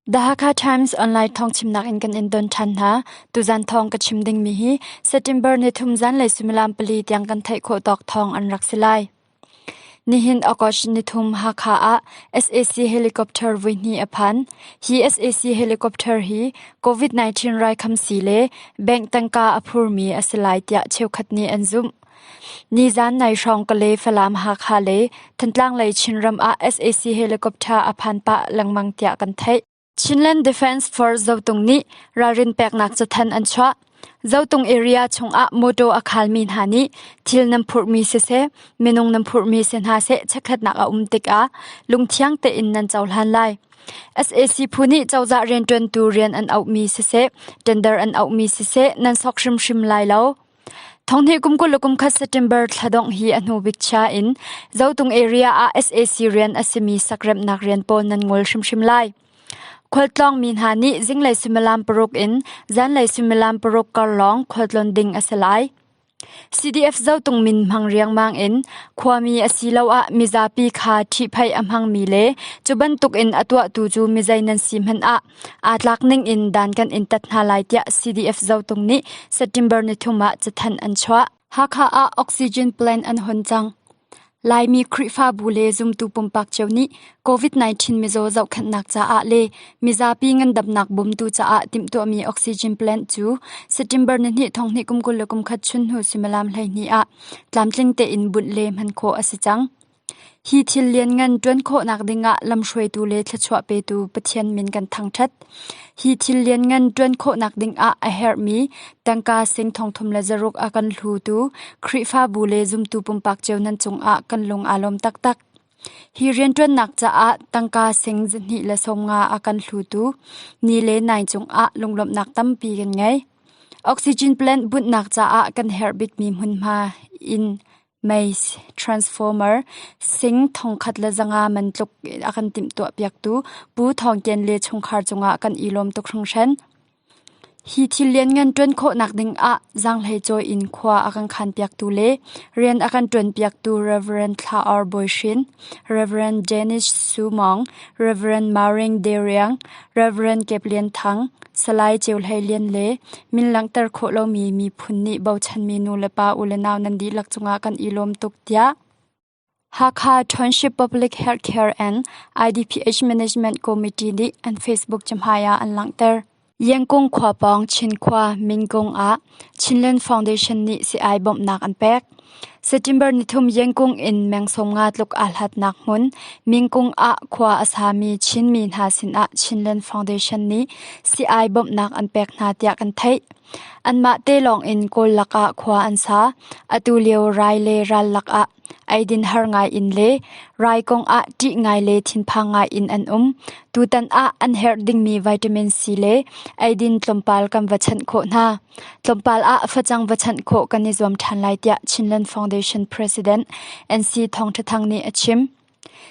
The Hakha Times online thawng chimnak in kan in don ṭhan hna. Tuzan thawng ka chim dingmi hi September ni thum zan le sumilam pali tiang kan theih khawh tawk thawng an rak si lai. Nihin August ni thum Hakha ah SAC helicopter vui hni a phan. Hi SAC helicopter hi COVID-19 raikhamsi le bank tangka a phurmi a si lai tiah cheukhat nih an zumh. Nizan nai hrawng ka le Falam Hakha le Thantlang lei Chinram ah sac helicopter a phan pah lengmang tiah kan theih. Chinland Defence Force Zotung nih ralrin peknak cathan an chuah. Zotung area chungah motor a khalmi hna nih thil nan phurhmi siseh, minung nan phurhmi si hna seh chekhatnak a um tikah lungthiang tein nan cohlan lai. sac phu nih cozah riantuantu rian an auhmi siseh, tender an auhmi siseh nan sok hrimhrim lai lo. Thonghnih kum kul le kumkhat September thla dongh hi a hnubik chia in Zotung area ah sac rian a simi sakremhnak rian pawl nan ngol hrimhrim lai. Khualtlawng mi hna nih zinglei suimilam paruk in zanlei suimilam paruk kar lawng khualtlon ding a si lai. CDF Zotung min hmang riangmang in khuami asiloah mizapi kha ṭhihphaih a hmangmi le cu bantuk in a tuahtu cu mizei nan si hmanh ah aa tlak ningin dan kan in tat hna lai tiah CDF zotung nih September nithum ah cathanh an chuah. Hakha ah oxygen plant an hon cang. Laimi Khrihfabu le zumtu pumpak cio nih COVID-19 mizaw zohkhanhnak caah le mizapi ngandamnak bumtu caah timhtuahmi oxygen plant cu September ni hnih thong hnih kum kul le kum khat chun hnu suimilam hleihnih ah tlamtling tein bunh le hman khawh a si cang. Hi thil lianngan ṭuan khawhnak dingah lamhruaitu le thluachuah petu Pathian min kan thangṭhat. Hi thil lianngan ṭuan khawhnak dingah a herhmi tangka seng thongthum le zaruk a kan hlutu Khrihfabu le zumtu pumpak cio nan cungah kan lung aa lawm taktak. Hi rianṭuannak caah tangka seng zahnih le sawmnga a kan hlutu ni le nai cungah lunglawmhnak tampi kan ngei. Oxygen plant bunhnak caah kan herh bikmi hmunhma in Maze transformer sing thongkhat le zanga man tluk a kan timhtuahpiaktu Pu Thawng Kien le chungkhar cungah kan i lawm tuk hringhran. Hi thil lianngan ṭuan khawhnak ding ah zaanghlei cawi in khua a kan khanpiaktu le rian a kan ṭuanpiaktu Rev. Thla Or Bawi Hrin, Rev. Janice Su Mawng, Rev. Maureen De Riang, Rev. Kep Lian Thang, Salai Ceu Hlei Lian le min langhter khawh lomi miphun nih bochanmi nu le pa u le nau nan dihlak cungah kan i lawm tuk tiah Hakha Township Public Healthcare and IDPH Management Committee nih an Facebook cahmai ah an langhter. Yengkung khua pawng Chinkhua Mingkung ah Chinland Foundation nih sii-ai bawmhnak an pek. September nithum Yengkung in meng-sawm nga tluk aa hlatnak hmun Mingkung ah khua a sami Chinmi hna sinah Chinland Foundation nih sii-ai bawmhnak an pek hna tiah kan theih. Anmah te lawng in Kawl lakah khua an sa. Atu lio rai le ral lakah Eidin har ngai in le rai kong ah ṭih ngai le thinphang ngai in an um. Tutan ah an herh dingmi vitamin C le eidin tlawmpal kan va chanh khawh hna. Tlawmpal ah facang va chanh khawh kan i zuam ṭhan lai tiah Chinland Foundation President NC Thawng Ṭha Thang nih a chim.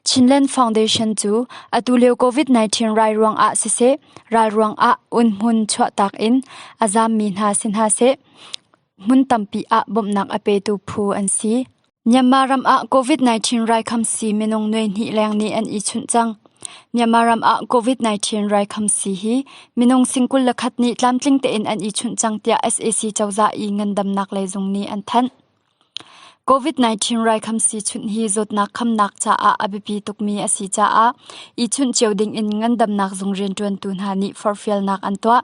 Chinland Foundation cu atu lio COVID-19 rai ruang ah siseh, ral ruang ah unhmun chuahtak in a zaammi hna si hna seh, Hmun tampi ah bawmhnak a petu phu an si. Myanmar ram ah COVID-19 raikam si minung nuihnih leng nih an i chunh cang. Myanmar ram ah COVID-19 raikam si hi minung singkul le khat nih tlamtling tein an i chunh cang tiah sac cozah i ngandamnak lei zung nih an thanh. COVID-19 raikam si chunh hi zawtnak khamnak caah a biapi tukmi a si caah i chunh cio ding in ngandamnak zung rianṭuantu hna nih forfialnak an tuah.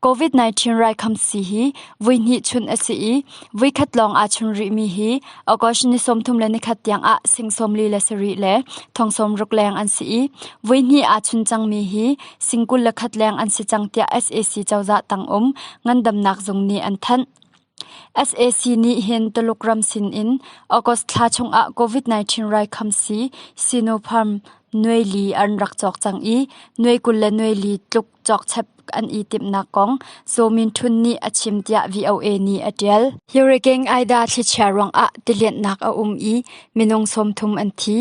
COVID-19 raikhamsi hi vuihnih chun a si i vuikhat lawng aa chun rihmi hi August ni sawmthum le nikhat tiangah sing sawmli le sarih le thong sawmruk leng an si i vuihnih aa chun cangmi hi sing kul le khat leng an si cang tiah SAC cozah tang um ngandamnak zung nih an thanh. SAC nih hin Tuluk ram sinin August thla chungah COVID-19 raikhamsi Sinopharm nuai li an rak cawk cang i nuai kul le nuai li tluk cawkchep an i timhnak kong Sominthun nih a chim tiah VOA nih a ṭial. Hurricane Ida thlichia ruangah tilianhnak a um i minung sawmthum an thi.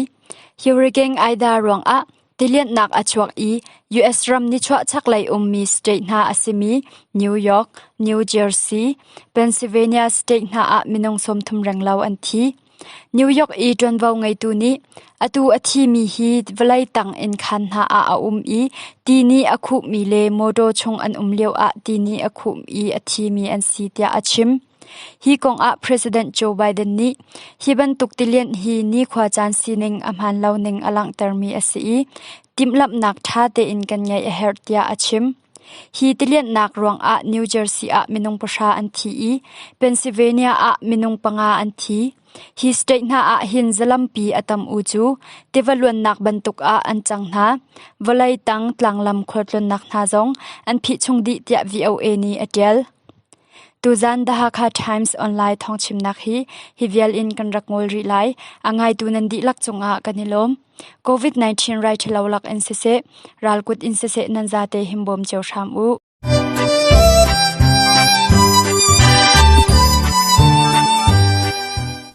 Hurricane Ida ruangah Tilianhnak a chuak i US ram nichuah chaklei ummi state hna a simi New York, New Jersey, Pennsylvania state hna ah minung sawmthum renglo an thi. New York i ṭuanvo ngeitu nih atu a thimi hi vawlei tang inn khaan hna ah a um i ti nih a khuhmi le mawṭaw chung an um lioah ti nih a khuh i a thimi an si tiah a chim. Hi kong ah President Joe Biden nih hi bantuk tilianh hi nikhua caan sining a hmaan lo ning a langhtermi a si i timhlamhnak ṭha tein kan ngeih a herh tiah a chim. Hi tilianhnak ruangah New Jersey ah minung pahra an thi i Pennsylvania ah minung panga an thi. Hi state hna ah hin zalampi a tam u cu tiva luannak bantuk ah an cang hna. Vawlei tang tlanglam khualtlunnak hna zong an phih chung dih tiah VOA nih a ṭial. Tuzan The Hakha Times online thawngchimnak hi hi vial in kan rak ngol rih lai. A ngaitu nan dihlak cungah kan i lawm. COVID-19 rai ṭhalo lak in siseh, ralkut in siseh nan zate him bawm cio hram u.